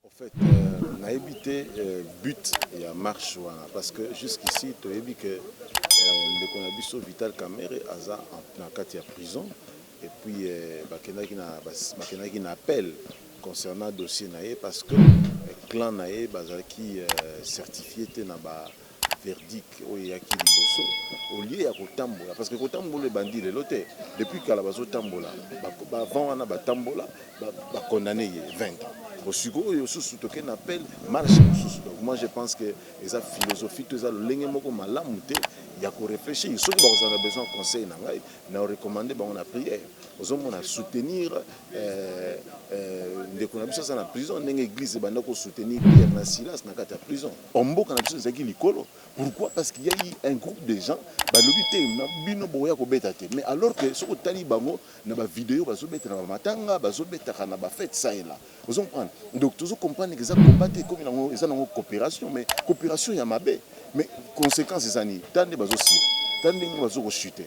Au fait, euh, nayebi te euh, but ya marche wana parce que jusqu'ici toyebi que euh, ndeko na biso Vital Kamerhe aza na kati ya prison et puis euh, bakendaki na bakendaki na appel concernant dossier na ye parce que euh, clan na ye bazalaki euh, certifié te na ba verdict oyo eyaki liboso au lieu ya kotambola parce que kotambola ebandi lelo te depuis kala bazotambola bavant wana batambola bacondamne ye 20 ans bosiko oyo susu toke na appel marche mosusu donc moi je pense que eza philosophie to eza lolenge moko malamu te ya koreflechir soki bakozala na besoin conseil na ngai na recommande bango na prière ozomona soutenir euh, euh, ndeko na biso aza na prison ndenge église ebanda kosoutenir pierre na silas na kati ya prison Or mboka na biso ezalaki likolo pourquoi parce qu'il ya eu un groupe de gens balobi te na bino bokoya kobeta te mais alors que soki otali bango na ba video bazobeta na ba matanga bazobetaka na ba fete ça et là ozo comprendre donc tozo comprendre que eza combat te ekomi nango eza nango cooperation mais cooperation ya mabe mais consequence eza nini tala nde bazosila tala ndenge bazo ko chuter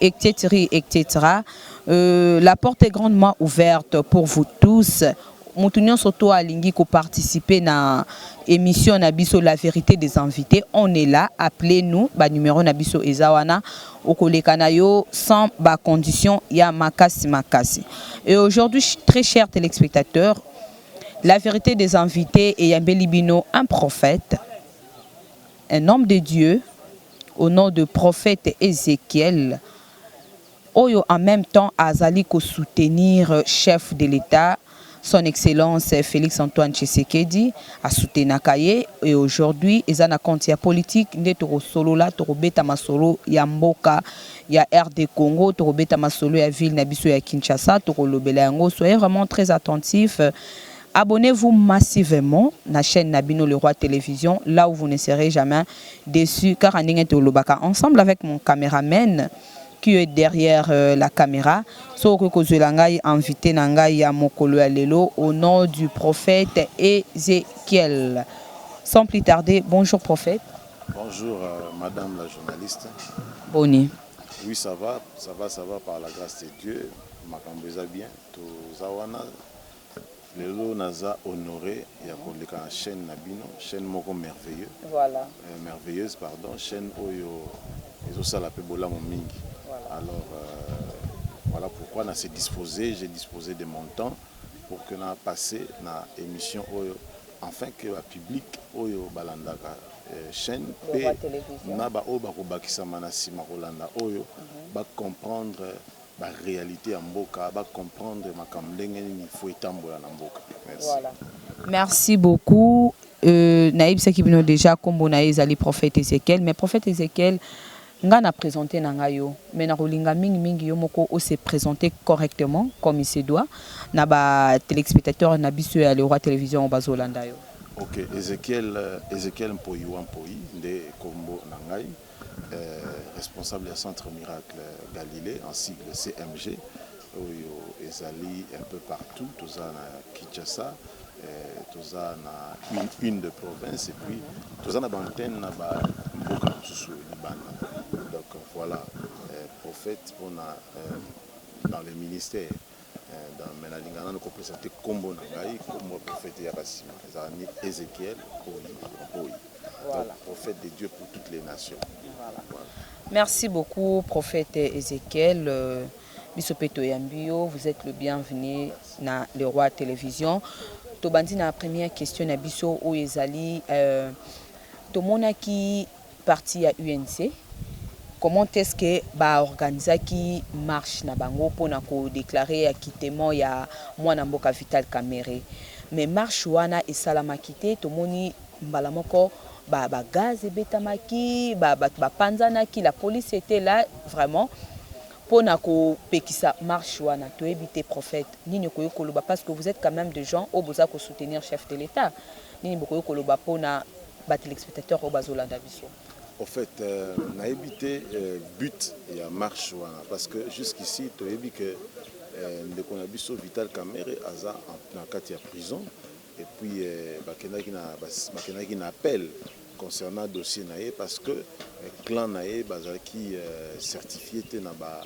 Ectetri ectetera euh, la porte est grandement ouverte pour vous tous moto nyonso to alingi ko participer na émission na biso la vérité des invités on est là appelez nous ba numéro na biso eza wana okoleka na yo sans ba conditions ya makasi makasi et aujourd'hui très chers téléspectateurs la vérité des invités eyambeli bino un prophète un homme de Dieu au nom de prophète Ezechiel oyo en meme temps azali ko soutenir chef de l'Etat son excellence Felix Antoine Tshisekedi a soutenaka ye et aujourd'hui eza na compte ya politique nde toko solola toko beta masolo ya mboka ya RDCongo toko beta masolo ya ville na biso ya Kinshasa toko lobela yango soyez vraiment très attentif Abonnez vous massivement na chaine na bino le roi television là où vous ne serez jamais deçu kaka ndenge tolobaka ensemble avec mon cameraman qui est derrière la camera soki okoki kozuela ngai invite na ngai ya mokolo ya lelo au nom du prophète Ezechiel sans plus tarder bonjour prophète Bonjour euh, madame la journaliste. Boni. Oui ça va, ça va, ça va par la grâce de Dieu. Makambo eza bien. Toza wana Lelo naza honore ya koleka na chaine na bino chaine moko merveilleux merveilleuse pardon chaine oyo ezo sala pe bolamu mingi alors voila pourquoi na se dispose je dispose de mon temps pour que na passe na emission oyo enfin que ba public oyo balandaka chaine pe na ba oyo bakobakisama na sima kolanda oyo ba comprendre ba realite ya mboka ba comprendre makambo ndenge nini il faut etambola na mboka merci. Merci beaucoup euh, nayebisaki bino deja nkombo na ye ezali prophète Ezekiel mais prophète Ezekiel nga na présente na nga yo mais nakolinga mingi mingi yo moko ose présente correctement comme il se doit na ba téléspectateurs na biso ya le roi télévision oyo bazolanda yo ok Ezekiel euh, Ezekiel Mpoyi wa Mpoyi nde nkombo na ngai responsable ya centre miracle Galilee en sigle CMG oyo ezali un peu partout toza na Kinshasa toza na une de province et puis toza na ba antenne na ba mboka mosusu libanda donc voilà prophète pona dans le ministère Eh, me nalinga nano kopesa te nkombo na ngai nkombo ya profete eyaka nsima ezala ni ezekiel oyi oyi voilà. prophète de dieu pour toutes les nations voilà. Voilà. merci beaucoup prophète ezekiel euh, biso mpe toyambi yo vous êtes le bienvenu na le roi télévision tobandi na première question na biso oyo ezali euh, tomonaki Parti ya UNC comment est-ce que ba organisaki marche na bango pona ko declarer acquittement ya muana mboka Vital Kamerhe mais marche wana esalamaki te tomoni mbala moko ba ba gaz ebetamaki ba batu ba panzanaki la police etait là vraiment pona ko pekisa marche wana toyebi te prophète nini okoki koloba parce que vous etes quand meme de gens oyo boza ko soutenir chef de l'etat nini bokoki koloba pona ba telespectateurs oyo bazo landa biso. Au fait, euh, nayebi te euh, but ya marche wana parce que jusqu'ici toyebi que euh, ndeko na biso Vital Kamerhe aza na kati ya prison et puis euh, bakendaki na bakendaki na appel concernant dossier na ye parce que euh, clan na ye bazalaki euh, certifié te na ba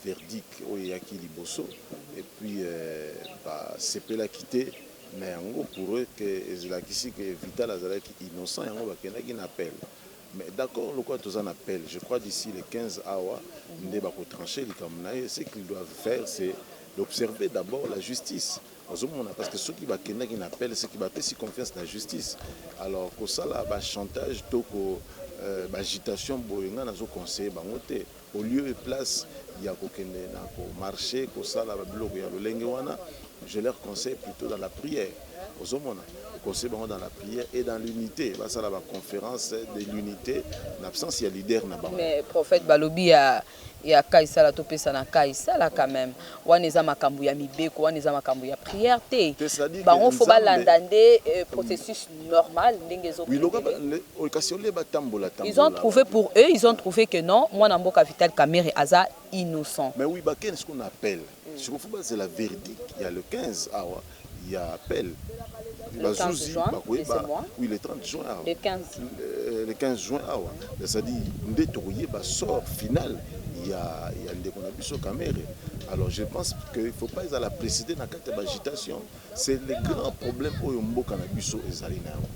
Verdict oyo eyaki liboso et puis ba sepelaki te na yango pour eux que elakisi que Vital azalaki innocent yango ba kendaki na appel mais d'accord lokola toza na appel je crois d'ici le 15 awa nde ba ko trancher likambo na ye ce qu'ils doivent faire c'est d'observer d'abord la justice ozo mona parce que soki ba kendaki na appel ce que ba pesi confiance na justice alors ko sala ba chantage to ko ba agitation boye nga nazo conseiller bango te. Au lieu et place ya ko kende na ko marcher ko sala ba biloko ya lolenge wana, je leur conseille plutot dans la prière. Ozo mona? Ko conseille bango dans la prière et dans l'unite. Ba sala ba conferences de l'unite na absence ya leader na bango. Mais prophète balobi ya ya Kaisala topesa na Kaisala quand meme. wana eza makambu ya mibeko wana eza makambu ya prière te bango faut balanda nde processus normal ndenge ezo kende ils ont trouve pour eux ils ont trouve que non mwana mboka vital kamerhe aza innocent. ya appel ba zuzi bakoyeba oui le 30 juin awa le 15 le 15 juin awa ezali nde tokoyeba sort final ya ya ndeko na biso Kamerhe alors je pense que il faut pas ezala précéder na kati ya agitation c'est le grand problème oyo mboka na biso ezali na yango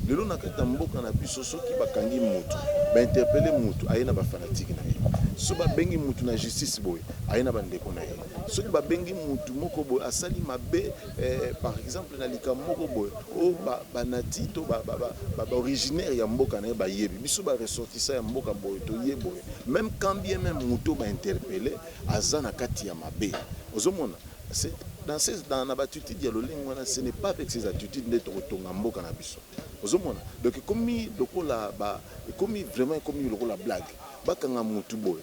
lelo na kati ya mboka na biso soki bakangi mutu ba interpeller mutu aye na ba fanatique na ye so babengi mutu na justice boye aye na bandeko na ye soki babengi mutu moko boye asali mabe eh, par exemple na likambo moko boye o oh, ba, banati to ba, ba, ba, ba, ba originaire ya mboka na ye bayebi biso ba ressortissant ya mboka boye toye boye même quand bien même mutu ba interpelle aza na kati ya mabe ozomona dans ces dans na batitude ya lolenge wana ce n'est pas avec ces attitudes nde tokotonga mboka na biso ozomona donc ekomi lokola ba ekomi vraiment ekomi lokola blague bakanga mutu boye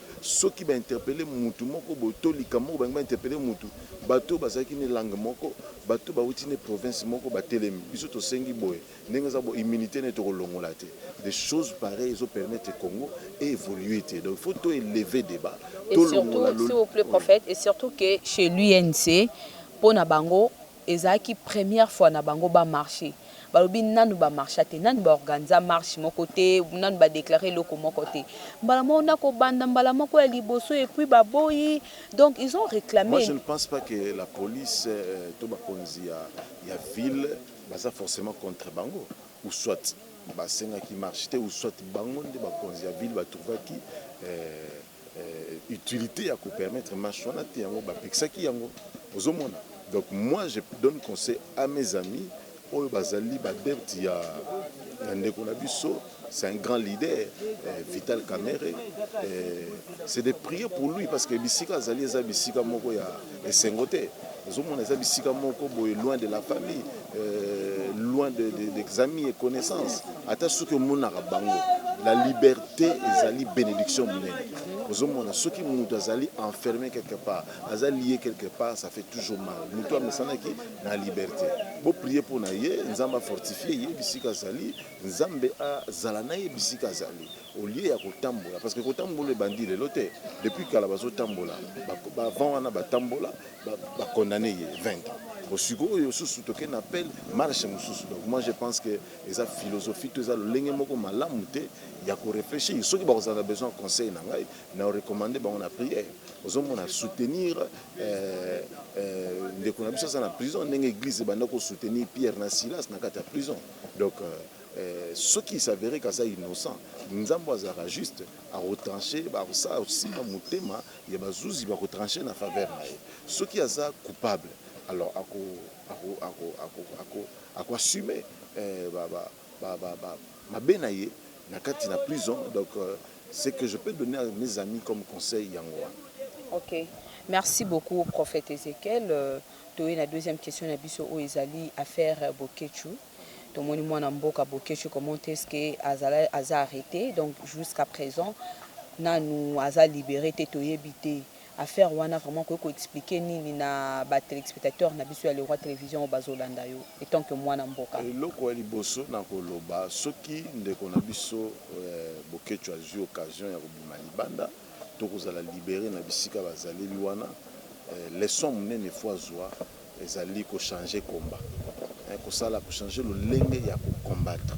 Soki ba interpeller mutu moko boye to likambo moko balingi ba interpeller mutu, bato oyo bazalaki ne langue moko, bato oyo bawuti ne province moko batelemi. Biso tosengi boye, ndenge eza boye immunite naye tokolongola te. Des choses pareilles ezo permettre Congo e evoluer te. Donc il faut to elever debat, Et surtout, s'il vous plait prophète, et surtout que chez l'UNC, pona bango, Ezalaki première fois na bango ba marche. Balobi nanu ba marcha te, nanu ba organiza marche moko te, nanu ba declara eloko moko te. Mbala moko nako banda mbala moko ya liboso et puis ba boyi donc ils ont Moi je reclame. ne pense pas que la police to ba konzi ya ya ville baza forcement contre bango ou soit ba sengaki marche te ou soit bango nde ba konzi ya ville ba trouvaki euh, utilité ya ko permettre marche wana te yango ba pekisaki yango ozo mona donc moi je donne conseil à mes amis oyo bazali ba debt ya ya ndeko na biso c'est un grand leader euh, Vital Kamerhe euh, c'est de prier pour lui parce que bisika azali eza bisika moko ya esengo te ozomona eza bisika moko boye loin de la famille euh, loin de, de, des amis et connaissances ata soki omonaka bango la liberté ezali bénédiction monene ozomona soki moto azali enfermé quelque part aza lié quelque part ça fait toujours mal moto amesanaki na liberté boprie mpo na ye nzambe afortifie ye bisika azali nzambe azala na ye bisika azali au lieu ya kotambola parce que kotambola ebandi lelo te depuis kala bazotambola bavant wana batambola bacondamne ye 20 ans osikoyo susu toke na appel marche mosusu donc moi je pense que eza philosophie to eza lolenge moko malamu te ya koreflechir soki bakozala na besoin ya conseil na ngai na recommande bango na prière ozomona soutenir euh, euh, ndeko na biso aza na prison ndenge église ebanda kosoutenir pierre na silas na kati ya prison donc euh, Soki s'averer que aza innocent, Nzambe oyo azalaka juste, ako trancher, akosimba motema ya ba zuzi, bako trancher na faveur na ye. Soki aza coupable, alors ako assumer mabe na ye na kati na prison. Donc, ce que je peux donner à mes amis comme conseil yango wana. Ok, merci beaucoup Prophète Ezechiel. Toye na deuxième question na biso oyo ezali affaire Boketshu. Tomoni mwana mboka Boketshu comment est-ce que azala aza arrete donc jusqu'à present nanu aza libere te toyebi te affaire wana vraiment okoki ko expliquer nini na ba telespectateurs na biso ya le roi television oyo bazo landa yo etant que mwana mboka? Eloko ya liboso nako loba soki ndeko na biso Boketshu azui occasion ya kobima libanda to kozala libere na bisika bazaleli wana leçon munene faut azua Ezali ko changer combat eh, kosala ko changer lolenge ya ko combattre.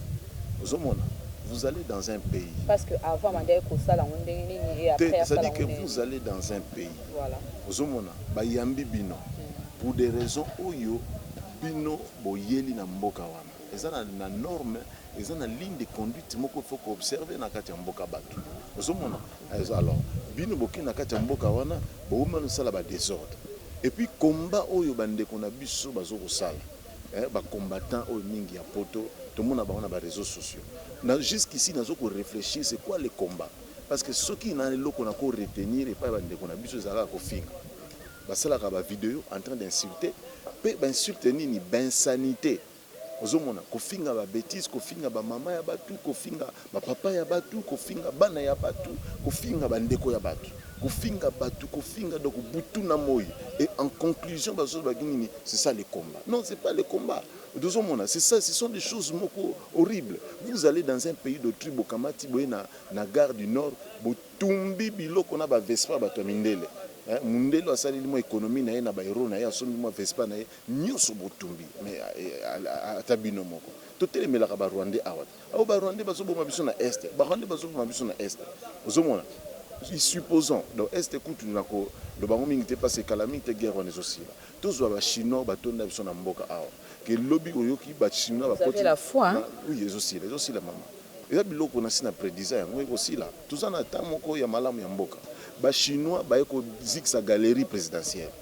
Ozo mona? Vous allez dans un pays. Parce que avant abandaki kosala yango ndenge nini et après asala yango ndenge nini? Te, c'est-à-dire que vous allez dans un pays. Voilà. Ozo mona? Ba yambi bino pour des raisons oyo bino boyeli na mboka wana. Eza na, na norme, eza na ligne de conduite moko il faut ko observer na kati ya mboka batu. Ozo mona? Eza alors bino boke na kati ya mboka wana bokomi bana kosala ba desordre et puis combat oyo ba ndeko na biso bazo kosala eh ba combattants oyo mingi ya poto tomona bango na ba reseaux sociaux na jusqu'ici nazo ko reflechir c'est quoi le combat parce que soki na eloko na ko retenir epai ya ba ndeko na biso eza kaka kofinga basalaka ba video en train d'insulter pe ba insulte nini ba insanites Ozomona kofinga ba betise kofinga ba maman ya batu kofinga ba papa ya batu kofinga bana ya batu kofinga ba ndeko ya batu kofinga batu kofinga donc butu na moyi et en conclusion bazo loba ki nini c'est ça le combat non c'est pas le combat tozo mona c'est ça ce sont des choses moko horrible vous allez dans un pays d'autrui bo kamati boye na na gare du nord bo tumbi biloko na ba vespa batu ya mindele mundele oyo asaleli mua economie na ye na ba euro na ye asombi mua vespa na ye nioso botumbi mais ata bino moko totelemelaka ba rwandais awa te awa ba rwandais bazo boma biso na est ba rwandais bazo boma biso na est ozo mona supposons donc est kutu na ko loba ngo mingi te parce que kala mingi te guerre wana ezo sila tozwa ba chinois ba tonda biso na mboka awa ke lobi oyoki ba chinois ba koti oui ezo sila ezo sila mama eza biloko na si na predisa yango eko sila toza na temps moko ya malamu ya mboka ba chinois baye ko zikisa galerie presidentielle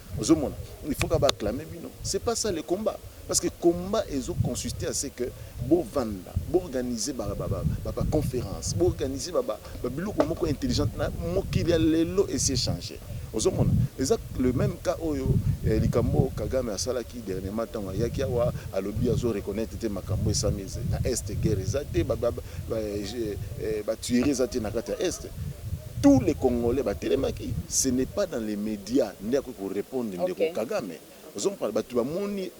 Ozo mona il faut kaka ba acclamer bino c'est pas ça le combat parce que combat ezo consister à ce que bo vanda bo organiser ba ba conference bo organiser ba ba biloko moko intelligente na mokili ya lelo esi e changer ozo mona eza le même cas oyo eh, likambo Kagame asalaki dernièrement ntango ayaki awa alobi azo reconnaître te makambo esami na est guerre eza te batuerie eh, eh, eza te na kati ya est Tout les congolais ba telemaki ce n'est pas dans les media nde akoki ko repondre ndeko kagame ozo comprendre batu ba moni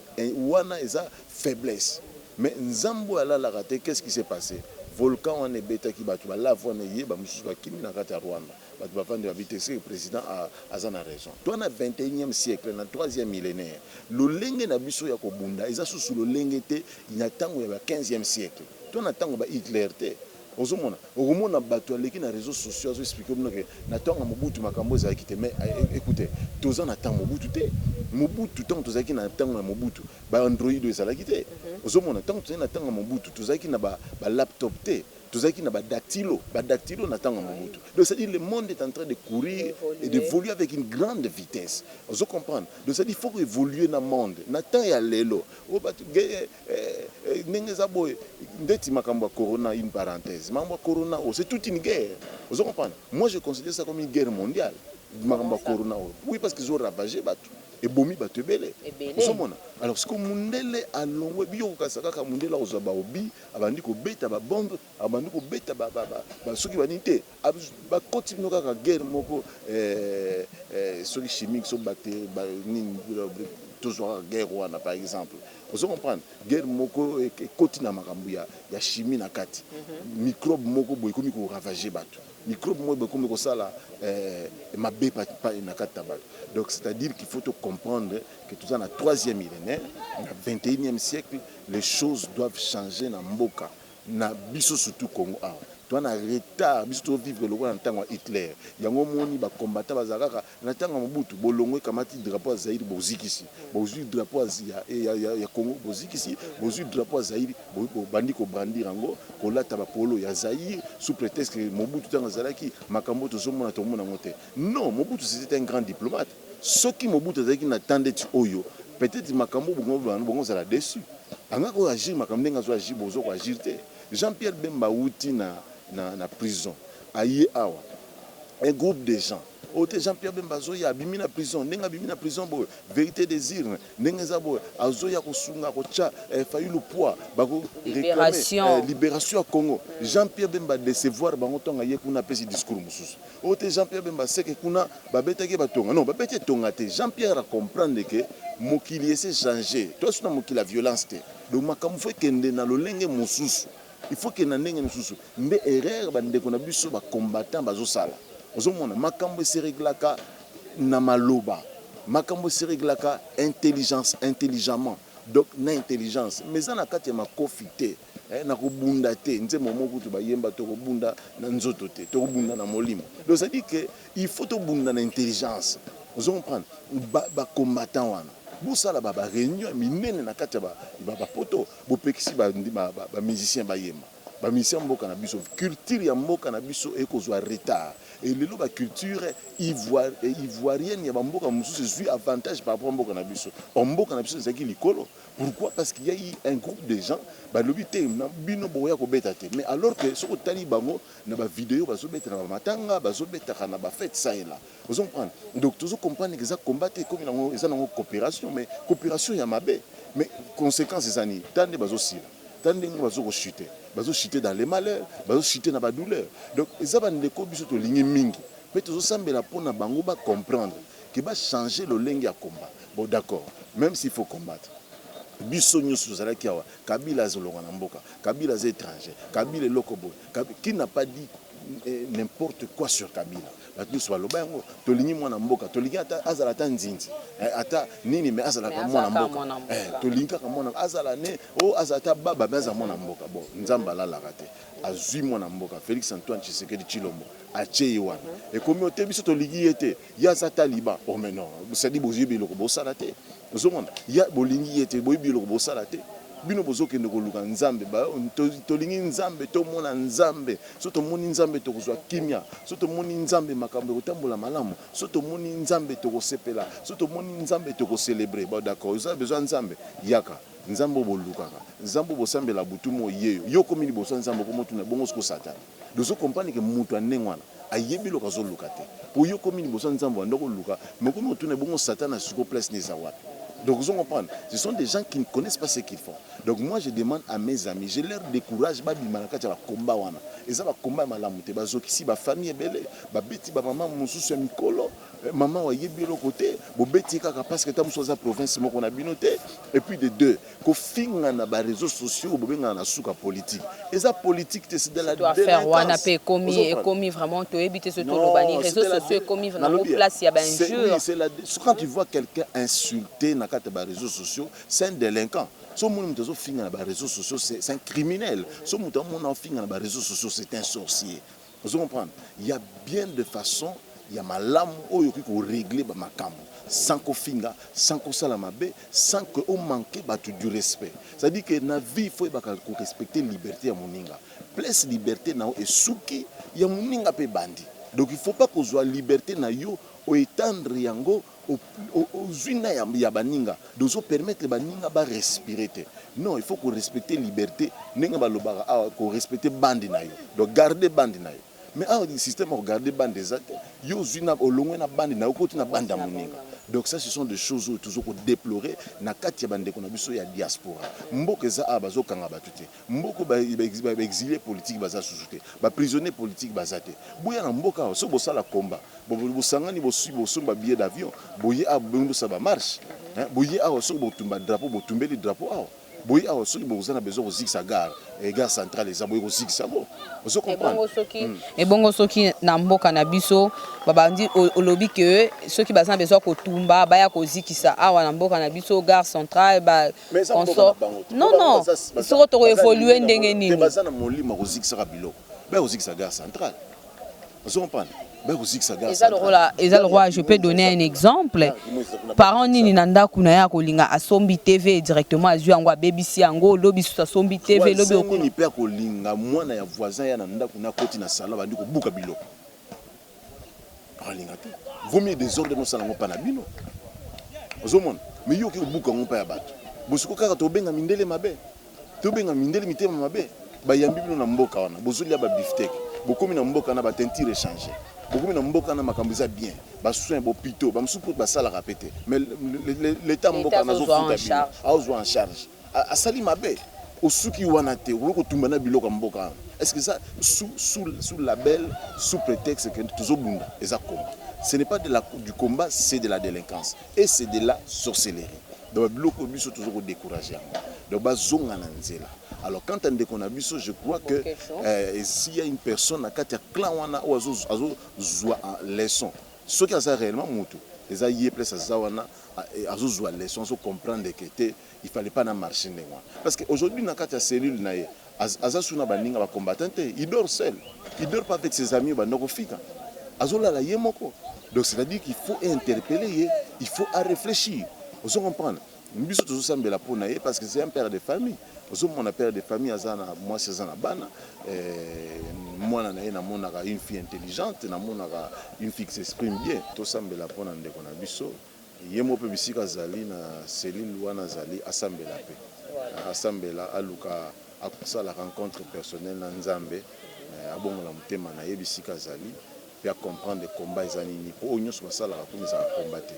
wana eza faiblesse mais nzambe oyo alalaka te qu'est ce qui se passe volcan wana ebetaki batu ba lave wana eye ba mususu ba kimi na kati ya rwanda batu ba vandi ba bi te ce que president aza na raison toi na 21 siècle na troisième millenaire lolenge na biso ya ko bunda eza susu lolenge te ya tango ya ba 15 siècle toi na tango ya ba Hitler te Ozo mona? Okomona batu aleki na reseaux sociaux azo expliquer bino que na tango ya Mobutu makambu oyo ezalaki te mais ecoutez toza na temps ya Mobutu te. Mobutu tango tozalaki na tango ya Mobutu ba android oyo ezalaki te. Ozo mona? Tango tozalaki na tango ya Mobutu tozalaki na ba ba laptop te, tozalaki na ba dactylo, ba dactylo na tango ya Mobutu. Donc c'est à dire le monde est entrain de courir et d'evoluer avec une grande vitesse. Ozo comprendre? Donc c'est à dire il faut ko evoluer na monde. Na temps ya lelo oyo batu Eeh ndenge eza boye ndeti makambo ya corona une parenthèse makambo ya corona oyo c'est toute une guerre ozo comprendre moi je considère ça comme une guerre mondiale makambo ya corona oyo oui parce que ezo ravager batu ebomi batu ebele ozo mona alors sikoyo mundele alongwe bino boko kanisa kaka mundele akozua ba obi abandi kobeta ba bombe Abandi kobeta ba ba ba ba soki ba nini te ba koti bino kaka guerre moko eh eh soki chimique soki bacterie ba nini tozua kaka guerre wana par exemple ozo comprendre guerre moko ekoti na makambo ya ya chimie na kati microbe moko boye ekomi ko ravager batu microbe moko boye ekomi kosala eh mabe na kati na batu donc c'est à dire qu'il faut to comprendre que toza na troisième millénaire na 21e siècle les choses doivent changer na mboka na biso surtout Congo awa toa na retard biso to vivre lokola na tango ya Hitler yango omoni ba combattants bazala kaka na tango ya Mobutu bolongwe ekamati drapeau ya Zaïre bozikisi bozui drapeau ya ya ya ya Congo bozikisi bozui drapeau ya Zaïre bo bobandi ko brandir yango kolata ba polo ya Zaïre sous pretexte que Mobutu tango azalaki makambo oyo tozomona tomona yango te non Mobutu c'etait un grand diplomate Soki Mobutu azalaki na temps ndeti oyo peut etre makambo oyo bokomi koloba boko zala deçu. Alingaki ko agir makambo ndenge azo agir bozo ko agir te. Jean Pierre Bemba awuti na na prison aye awa un groupe des gens oyo te Jean Pierre Bemba azoya abimi na prison ndenge abimi na prison boye verite des urnes ndenge eza boye azoya kosunga kotia eh, Fayulu poids bako reclamer eh, liberation ya Congo. Jean Pierre Bemba decevoir bango tonga ye kuna apesi discours mususu. Oyo te jean pierre bemba seke kuna ba betaki ye ba tonga non ba beti ye tonga te jean pierre a comprendre que mokili ese change toya suna mokili ya violence te donc makambo faut ekende na lolenge mosusu il faut kende na ndenge mosusu nde erreur ba ndeko na biso ba combattant bazo sala ozo mona makambo ese reglaka na maloba makambo ese reglaka intelligence intelligemment donc na intelligence mais eza na kati ya makofi te. Eh nako bunda te nzembo moko kutu ba yemba toko bunda na nzoto te toko bunda na molimo donc ça dit que il faut to bunda na intelligence ozo comprendre ba, ba combattants wana bosala ba, ba reunion ya minene na kati ya ba, ba, ba poto bopekisi ba, ba, ba, ba musiciens bayemba ba musiciens mboka na biso culture ya mboka na biso ekozwa retard et lelo ba culture ivoire, ivoirienne ya ba mboka mosusu ezwi avantage par rapport mboka na biso or mboka na biso ezalaki likolo Pourquoi parce qu'il y a eu un groupe de gens balobi te na bino bokoya kobeta te mais alors que soki otali bango na ba video bazobeta na bamatanga bazobetaka na ba fete ça et là ozo comprendre donc tozo comprendre eza combat te ekomi nango eza nango coopération mais coopération ya mabe mais conséquence eza nini ta nde bazosila ta ndenge bazo kochute bazochute dans les malheurs bazochute na badouleur donc eza bandeko biso tolingi mingi mpe tozosambela mpo na bango ba comprendre Que ba changer lolenge ya combat bon d'accord meme s'il faut combattre biso nioso tozalaki awa kabila azo longwa na mboka kabila aza etranger kabila eloko boye kabila qui n'a pas dit n'importe quoi sur kabila batu nioso baloba yango tolingi mwana mboka tolingi ata azala ata nzinzi eh, ata nini mais azala ka mwana mboka eh, tolingi kaka mwana azala ne o oh, azala ata baba mais azala mwana mboka bon nzambe alalaka te azui mwana mboka Felix Antoine Tshisekedi Tshilombo atie ye wana mhm. ekomi ote biso tolingi ye te Ye aza taliban oh mais non cestadi boyebi eloko bosala te ozomona ya bolingi ye te boyebi eloko bosala te bino bozokende koluka nzambe tolingi nzambe tomona nzambe so tomoni nzambe tokozwa kimia so tomoni nzambe makambo ekotambola malamu so tomoni nzambe tokosepela so tomoni nzambe tokocelebre ba d'accord oza bezwa nzambe yaka nzambe obolukaka nzambe obosambela butu moyeyo yo okomi liboso ya nzambe okomotuna bongo siko satana Dozo comprendre que mutu ya ndenge wana ayebi eloko azo luka te po yo okomi liboso ya nzambe obanda ko luka mais okomi ko tuna ebongo satan na sikoyo place naye eza wapi donc ozo comprendre ce sont des gens qui ne connaissent pas ce qu'ils font donc moi je demande à mes amis je leur de courage ba bima na kati ya ba combat wana eza ba combat ya malamu te ba zokisi ba famille ebele ba beti ba maman mususu ya mikolo eh, maman wa yebi eloko te bo beti kaka parce que ta mususu aza province moko na bino te et puis de deux Kofinga na ba reseaux sociaux bobengana na suka politique eza politique te c'est de la delinquance. Surtout affaire wana pe ekomi ekomi vraiment toyebi te soki toloba nini reseaux sociaux ekomi na ngo place ya ba injures. Oui c'est la quand tu vois quelqu'un insulter na kati ya ba reseaux sociaux c'est un delinquant. So moni moto azo finga na ba reseaux sociaux c'est un criminel. So moto amona ofinga na ba reseaux sociaux c'est un sorcier. Ozo comprendre? Ya bien de façon ya malamu oyo okoki ko regler ba makambu sans ko finga, sans ko sala mabe, sans que o manquer batu du respect. C'est à dire que na vie il faut oyebaka ko respecter liberte ya muninga. Place liberte na yo esuki, ya muninga pe ebandi. Donc il faut pas kozua liberte na yo o etendre yango Ozui na ya baninga de ozo permettre baninga ba respire te non il faut ko respecter liberte ndenge ba lobaka awa ko respecter bande na yo donc garde bande na yo mais awa di système ya ko garde bande eza te yo ozui na olongwe na bande na yo okoti na bande ya moninga donc ça ce sont des choses oyo tozo ko deplorer na kati ya ba ndeko na biso ya diaspora mboka eza awa bazo kanga batu te Mboka oyo ba exiles politiques baza susu te, ba prisonniers politiques baza te, boya na mboka awa soki bosala combat bosangani bosomba billet d'avion boye awa boni bosala ba marche hein, boye awa soki bokotumba drapeau botumbeli drapeau awa, boye awa soki boza na besoin kozikisa gare eh, gare centrale eza boye kozikisa yango ozo comprendre ebongo soki, hmm. ebongo soki na mboka na biso babandi olobi que soki baza na besoin kotumba baya kozikisa awa na mboka na biso gare centrale ba consort non non soko toko évoluer ndenge nini baza na molimo kozikisaka biloko ba kozikisa gare centrale ozo comprendre eza lokola eza lokola je peux donner un exemple parent nini na ndako na ye akolinga asombi tv directement azwi yango abebisi yango lobi lisusu asombi tv lobi okolinga mpe akolinga mwana ya voisin ya na ndako na koti na salon abandi kobuka biloko alinga te vaut mieux desordre nosala yango mpa na bino ozomona me yo oke kobuka yango mpa ya bato bosiko kaka tobenga mindele mabe tobenga mindele mitema mabe bayambi bino na mboka wana bozolia babiftek bokomi na mboka na batentire echange bokomi na mboka na makambo eza bien basoin bopito bamosusu mpo basalaka mpe te mais leta mboka nazofuta bino aozwa en charge asali mabe osuki wana te okoki kotumba na biloko ya mboka wana est ce que eza sous, sous, sous label sous prétexte que tozobunda eza combat ce n'est pas de la, du combat c'est de la délinquance et c'est de la sorcellerie donc biloko biso tozo ko décourager yango donc bazonga na nzela alors quant à ndeko na biso je crois que euh, s'il y a une personne na kati ya clan wana oyo azozwa leçon soki aza réellement motu eza ye place aza wana azo zua leçon azo comprendre que te il fallait pas na marche ndenge wana parce que aujourd'hui na kati ya cellule na ye aza sous na ba ninga ba combattants te il dort seul il dort pas avec ses amis ba ndoko fika azo lala ye moko donc c'est à dire qu'il faut interpeller ye il faut à réfléchir ozo comprendre biso tozo sambela pona ye parce que c'est un père de famille Ozo mona père de famille aza na mwasi aza na bana eh, mwana na ye namonaka une fille intelligente namonaka une fille qui s'exprime bien. Tosambela mpo na ndeko na biso ye moko mpe bisika azali na cellule wana azali asambela mpe asambela aluka akosala rencontre personnelle na Nzambe eh, abongola motema na ye bisika azali mpe acomprendre combat eza nini mpo oyo nyonso basalaka kuna ezalaka combat te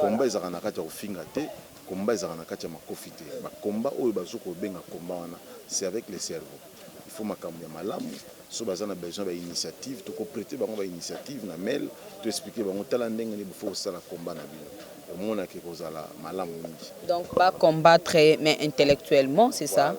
combat ezalaka na kati ya kofinga te Combat ezalaka na kati ya makofi te ba combat oyo bazo ko benga combat wana c'est avec le cerveau il faut makambu ya malamu soki baza na besoin ba initiative toko preter bango ba initiative na mail to expliquer bango tala ndenge nini faut kosala combat na bino omonaka ekozala malamu mingi. Donc ba combattre mais intellectuellement c'est ça?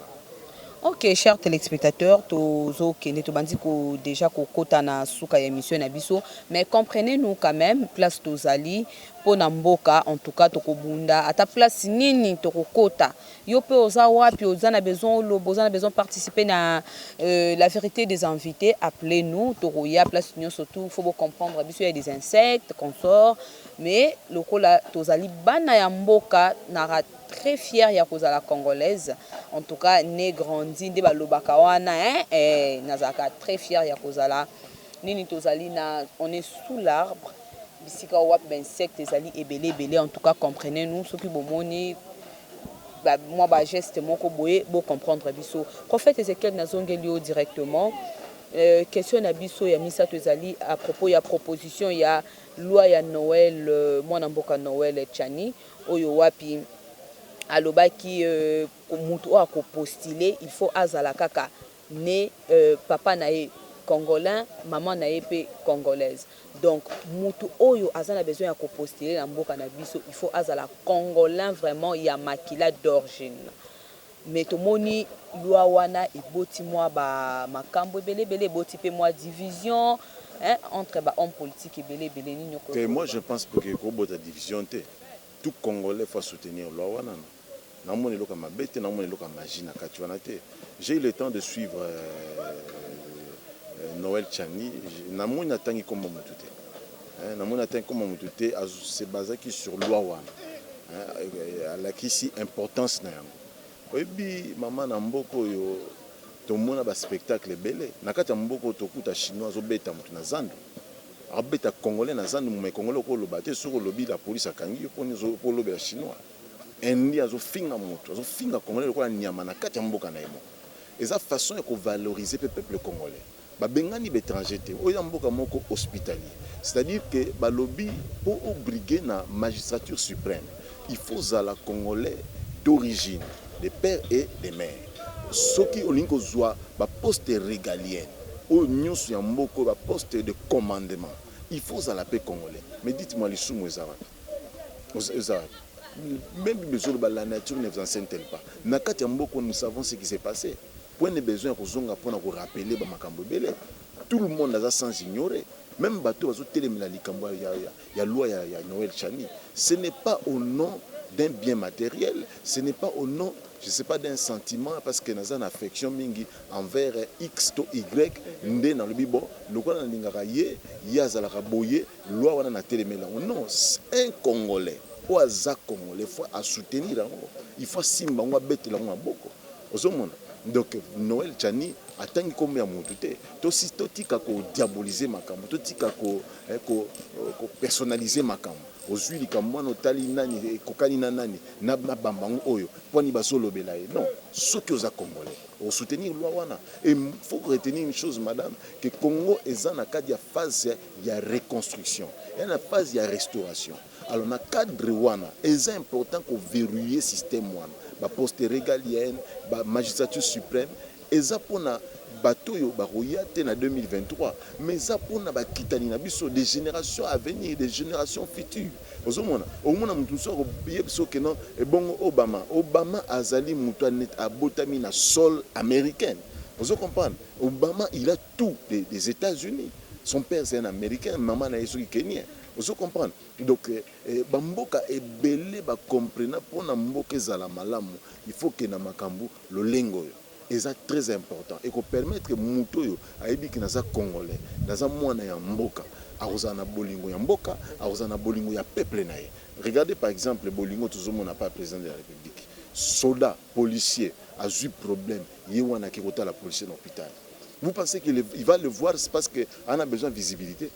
Ok cher telespectateur tozo kende tobandi ko dejà kokota na suka ya emission na biso mais comprenez nous quand meme place tozali pona mboka en tout cas toko bunda ata place nini toko kota yo pe oza wapi oza na besoin oloba oza na besoin participe na la verite des invites appeler nous toko ya place nioso tout faut bo comprendre biso ya des insectes consort mais lokola tozali bana ya mboka na très fière ya kozala congolaise en tout cas ne grandi nde balobaka wana hein eh nazalaka très fière ya kozala nini tozali na on est sous l'arbre bisika oyo wapi ba insectes ezali ebele ebele en tout cas comprenez nous soki bomoni ba mwa ba gestes moko boye bo comprendre biso prophète Ezechiel nazongeli yo directement euh, question na biso ya misato ezali à propos ya proposition ya loi ya Noël euh, mwana mboka Noël Tshani oyo wapi alobaki euh, mutu oyo akopostile il faut azala kaka ne papa na ye congolain maman na ye pe congolaise donc mutu oyo aza na besoin ya ko postuler na mboka na biso il faut azala congolain vraiment ya makila d'orgine mais tomoni loi wana eboti mua ba makambu ebele ebele eboti pe mua division hein entre ba homme politique ebele ebele nini oko loba te moi je pense que eko bota division te tout congolais faut a soutenir loi wana. Nazo mona eloko ya mabe te, nazo mona eloko ya magie na kati wana te. J'ai eu le temps de suivre Noël Tshani, na moni atangi kombo mutu te. Na moni atangi kombo mutu te, a se basaki sur loi wana. Alakisi importance na yango. Oyebi mama na mboka oyo tomona ba spectacle ebele na kati ya mboka oyo tokuta chinois azo beta mutu na zandu. Abeta congolais na zandu mais congolais oko loba te soki olobi la police akangi yo poni ozo olobela chinois. Indien azo finga mutu azo finga congolais lokola nyama na kati ya mboka na ye moko eza façon ya ko valorise pe peuple congolais ba bengani ba etranger te oyo eza mboka moko hospitalier c'est à dire que ba lobi po o brigue na magistrature supreme il faut ozala congolais d'origine de père et de mère soki olingi ko zua ba poste regalien oyo nioso ya mboka oyo ba poste de commandement il faut ozala pe congolais mais dites moi lisumu eza wapi? Meme besoin de la nature ne vous enseigne t-elle pas na kati ya mboka nous savons ce qui s'est passé point ne besoin ya kozonga pona ko rappeler ba makambo ebele tout le monde aza sans ignorer meme bato bazo telemela likambo ya, ya, ya loi ya, ya Noël Chani ce n'est pas au nom d'un bien matériel ce n'est pas au nom je sais pas d'un sentiment parce que naza na affection mingi envers x to y nde nalobi bon lokola nalingaka ye ye azalaka boye Loi wana na telemeli yango non un congolais oyo aza congolais faut a soutenir yango il faut asimba yango abetela yango maboko ozo mona donc Noël Tshani atangi kombo ya mutu te to si to tika ko diaboliser makambo to tika ko eh, ko, euh, ko personnaliser makambo ozui likambo wana otali nani ekokani na nani na bamba yango oyo pwani bazolobela ye non soki oza congolais osoutenir loi wana et faut retenir une chose madame que Congo eza na kati ya phase ya reconstruction ya na phase ya restauration alors na cadre wana eza important ko verrouiller système wana ba poste regalienne ba magistrature supreme eza pona bato oyo bakoya te na 2023 mais eza pona bakitani na biso des générations à venir des générations futures ozomona omona moto mosusu akoye biso ke non ebongo obama obama azali moto abotami na sol américaine ozo comprendre obama il a tout des etats unis son père c'est un americain maman na ye soki kenien ozo comprendre donc ba mboka ebele ba comprena pona mboka ezala malamu il faut ke na makambu lolenge oyo eza très important et ko permettre mutu oyo ayebi ke naza congolais naza mwana ya mboka akozala na bolingo ya mboka akozala na bolingo ya peuple na ye regardez par exemple bolingo tozo mona pa president de la republique soda policier azui problème ye wana ake kotala policier na hopital Vous pensez que le, il va le voir c'est parce que en a besoin de visibilité.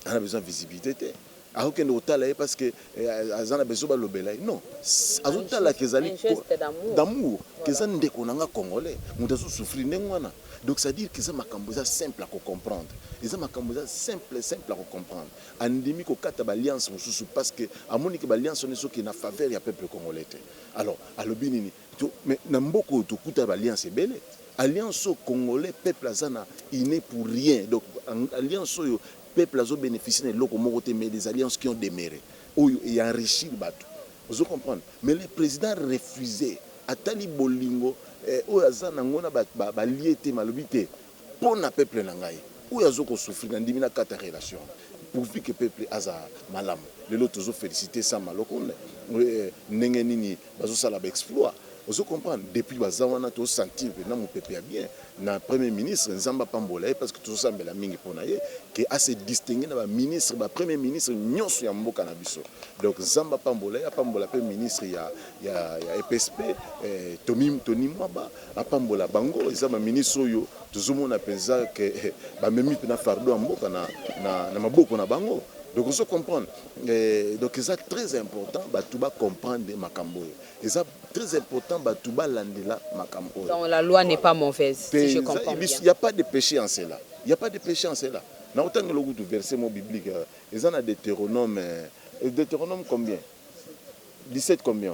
En a besoin de visibilité te. akokende kotala ye parce que euh, aza na besoin balobela ye non azotala ke ezali d'amour ke eza ndeko na nga congolais moto azosouffrir ndenge wana donc c'est à dire ke eza makambo eza simple ya kocomprendre eza makambo eza simple simple ya kocomprendre andimi kokata baalliance mosusu parce que amoni ke baalliance wana ezoki na faveur ya peuple congolais te alors alobi nini To mais na mboka oyo tokuta ba alliance ebele alliance oyo congolais peuple aza na il ne pour rien donc alliance oyo peuple azo beneficie na eloko moko te mais des alliances qui ont demere oyo e enrichir batu ozo comprendre mais le president refuse atali bolingo eh, oyo aza na ngo na ba, ba, ba lie te malobi te pona peuple na ngai oyo azo ko souffrir na ndimi na kata relation wana pourvu que peuple aza malamu lelo tozo felicite sama lokonde ndenge nini bazo sala ba exploit ozo comprendre depuis baza wana to sentir pena mupepe ya bien na premier ministre nzambe apambola ye parce que tozo sambela mingi pona ye que a se distinguer na ba ministre ba premier ministre nionso ya mboka na biso donc nzambe apambola ye apambola pe ministre ya ya ya EPSP eh, Tony Mwaba apambola bango eza ba ministre oyo tozomona penza ke bamemi pena fardeau ya mboka na na maboko na bango donc ozo comprendre donc eza très important batu ba comprendre makambo oyo eza très important batu balandela makambo oyo donc la loi n'est pas mauvaise si je comprends bien il y a pas de péché en cela il y a pas de péché en cela na otangela okutu verset mo biblique euh, eza na Deutéronome euh, Deutéronome combien 17 combien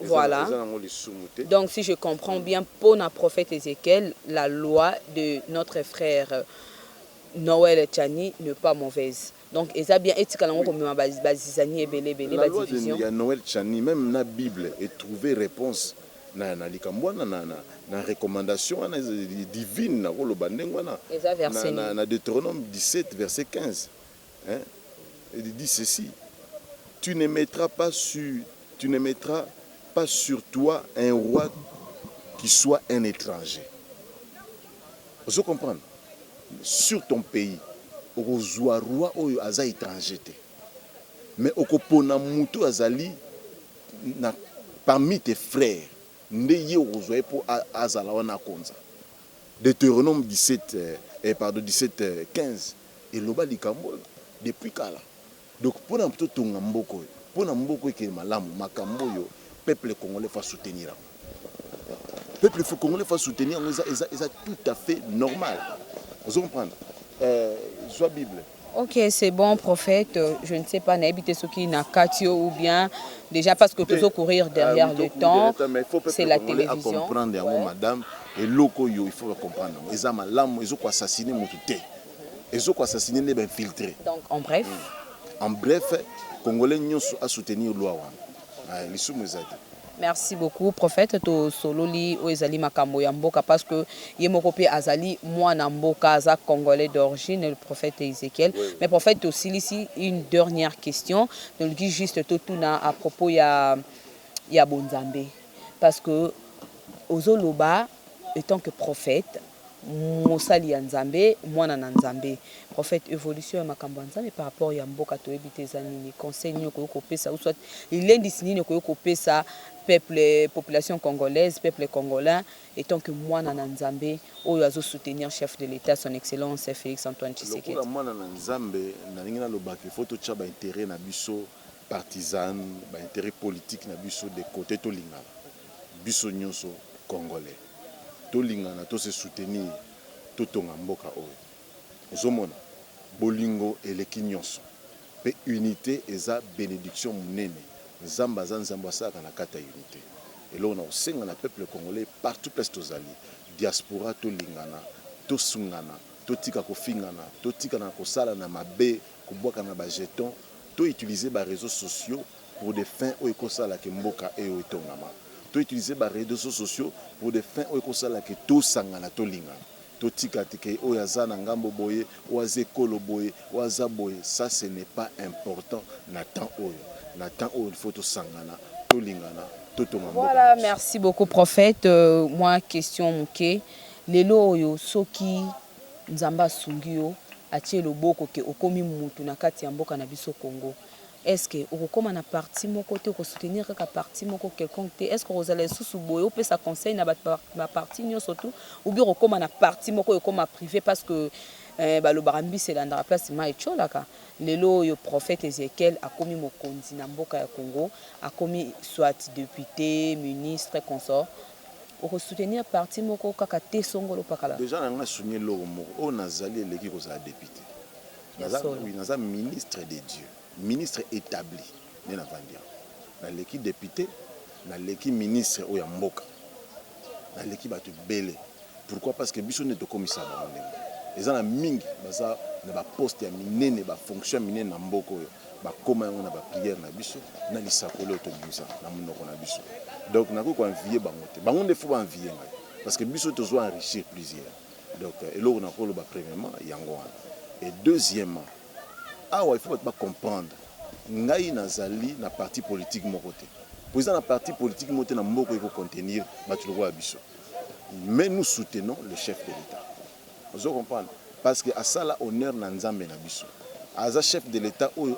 Voilà donc si je comprends bien pona prophète Ezechiel la loi de notre frère Noël Tshani ne pas mauvaise donc eza bien etikala yango komema ba zizanie ebele ebele ba division. Ya Noël Tshani meme na bible e trouver reponse na na likambo wana na na recommandation wana divine nako loba ndenge wana na na Deuteronome 17 verset 15. Hein? Il dit ceci, tu ne mettras pas sur, tu ne mettras pas sur toi un roi qui soit un etranger. Ozo comprendre? Sur ton pays, okozua roi oyo aza etranger te. Mais okopona mutu azali na parmi tes frères nde ye okozua ye po azala wana akonza. Deuteronome 17, eh, pardon, 17, 15. eloba likambo oyo depuis kala donc pona to tonga mboka oyo pona mboka ekende malamu makambo oyo peuple congolais faut a soutenir yango peuple faut congolais faut a soutenir yango eza eza eza tout à fait normal ozo comprendre euh zwa bible Ok, c'est bon, prophète. Euh, je ne sais pas, n'habite ce qui n'a katio ou bien déjà parce que tu veux courir derrière ah, le temps. C'est la télévision. comprendre, ouais. madame. Et loco, il faut comprendre. Ils ont malam, ils ont assassiné mon tout. ezo ko assassiner nde ba infiltre donc en bref en bref congolais nionso a soutenir loi wana lisumu eza te Merci beaucoup prophète to sololi oyo ezali makambo ya mboka parce que ye moko pe azali mwana mboka aza congolais d'origine le prophète Ezekiel oui. mais prophète to silisi une dernière question donc dit juste to tuna à propos ya ya bonzambe parce que ozoloba étant que prophète Mosali ya Nzambe, mwana na Nzambe, prophète, evolution ya makambo ya Nzambe par rapport ya mboka toyebi te eza nini, conseil nini okoki kopesa ou soit lilendisi nini okoki kopesa peuple, population congolaise, peuple congolain etant que mwana na Nzambe oyo azo soutenir chef de l'Etat son excellence Felix Antoine Tshisekedi. Lokola mwana na Nzambe nalingi naloba que il faut totia ba interets na biso partisane, ba interets politiques na biso de cote tolingana. biso nioso congolais tolingana to se soutenir totonga mboka oyo ozomona bolingo eleki nionso pe unite eza benediction munene nzambe aza nzambe asalaka na kati ya unite eloko na kosenga na peuple congolais partout place tozali diaspora tolingana tosungana totika kofingana totikana kosalana mabe kobwakana ba jetons to utiliser ba reseaux sociaux pour des fins oyo eko sala que mboka oyo etongama. To utiliser ba redeaux sociaux pour des fins oyo eko sala que to sangana, to lingana. To tika te que oyo aza na ngambo boye, oyo aza ekolo boye, oyo aza boye, ça ce n'est pas important na temps oyo. Na temps oyo il faut to sangana, to lingana, to tonga mboka na biso. Voilà, merci beaucoup prophète. Mwa question muke, lelo oyo soki Nzambe asungi yo, atie loboko que okomi mutu na kati ya mboka na biso Congo, Est ce que okokoma na parti moko te, oko soutenir kaka parti moko quelconque te? Est ce que okozala lisusu boye opesa conseil na batu ba parti nionso tout? Ou bien okokoma na parti moko oyo ekoma prive parce que eh balobaka mbisi elandaka place mayi etiolaka. Lelo oyo prophète Ezechiel akomi mokonzi na mboka ya Congo, akomi soit depute, ministre, consort. Oko soutenir parti moko kaka te songolo pakala. Dejà na nga sounie eloko moko oyo nazali eleki kozala depute. Naza, oui, naza ministre de Dieu, ministre etabli nde navandi awa. Naleki depute, naleki ministre oyo ya mboka, naleki bato ebele. Pourquoi? Parce que biso nde tokomisa bango ndenge eza na mingi baza na ba poste ya minene ba fonction ya minene na mboka oyo bakoma yango na ba prière na biso na lisakoli oyo tobimisa na monoko na biso donc nakoki koenvie bango te bango nde fo baenvie ngai parce que biso tozo enrichir plusieurs Donc eloko na koloba premièrement yango wana et deuxièmement awa il faut batu ba comprendre ngai nazali na parti politique moko te po eza na parti politique moko te na mboka eko contenir batu lokola biso mais nous soutenons le chef de l'etat ozo comprendre parce que asala honneur na nzambe na biso aza chef de l'etat oyo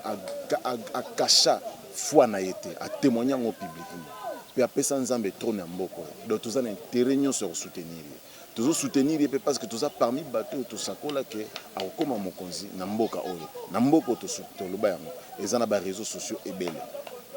akacha foi na ye te atemoigne yango publiquement pe apesa nzambe trone ya mboka oyo donc toza na interet nyonso ya kosoutenir ye tozo soutenir ye pe parce que toza parmi bato oyo tosakola ke akokoma mokonzi na mboka oyo na mboka oyo toloba yango eza na ba reseaux sociaux ebele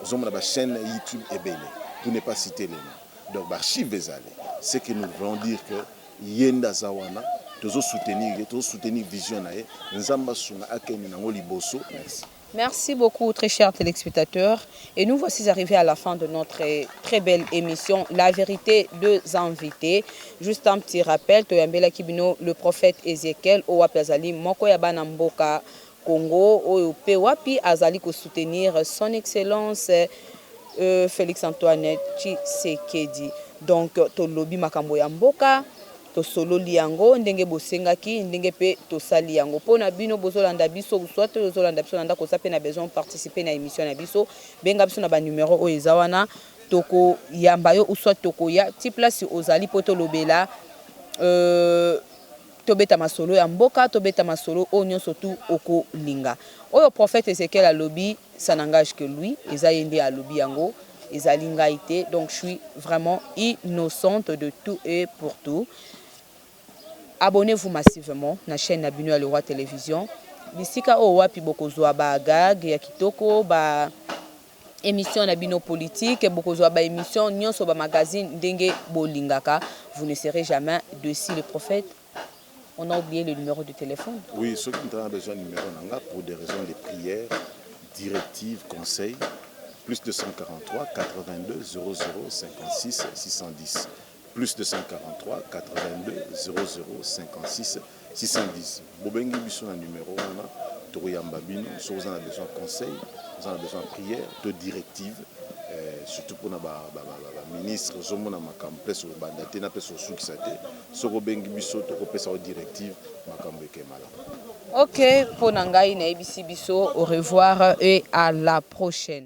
ozomona ba chaine youtube ebele pour ne pas citer le nom donc ba archive ezali ce que nous voulons dire que ye nde aza wana tozo soutenir ye tozo soutenir vision na ye nzambe asunga akende nango liboso merci Merci beaucoup très cher telespectateur et nous voici arrivés à la fin de notre très belle émission la vérité deux invités juste un petit rappel toyambela kibino le prophète Ezekiel oyo wapi azali moko ya bana mboka Congo oyo pe wapi azali ko soutenir son excellence euh, Félix Antoine Tshisekedi donc tolobi makambo ya mboka Tosololi yango ndenge bosengaki ndenge pe tosali yango pona bino bozolanda biso ou soit oyo ozolanda biso na ndaku oza pe na besoin o participer na emission na biso benga biso na ba numero oyo eza wana toko yamba yo ou soit tokoya ti place ozali po tolobela euh tobeta masolo ya mboka tobeta masolo oyo nionso tout okolinga oyo prophète Ezechiel alobi ça n'engage que lui eza ye nde alobi yango Ezali ngai te donc suis vraiment innocente de tout et pour tout abonnez vous massivement na chaine na bino ya le roi television bisika oyo wapi bokozwa ba gag ya kitoko ba émission na bino politique bokozwa ba émission nyonso ba magazine ndenge bolingaka vous ne serez jamais deci le prophète On a oublie le numero de telephone. Oui soki mutu aza na besoin ya numero na nga pour des raisons de prière, directive, conseil, plus 243 82 00 56 610, plus 243 82 00 56 610. Bobengi biso na numero wana tokoyamba bino soki oza na besoin ya conseil, oza na besoin ya prière to directive, eh, surtout pona ba, ba, ba, ba, ba ministre ozomona makambo place obanda te na place osukisa te. Soki obengi biso toko pesa yo directive makambu eke malamu. Ok pona ngai nayebisi biso au revoir et à la prochaine.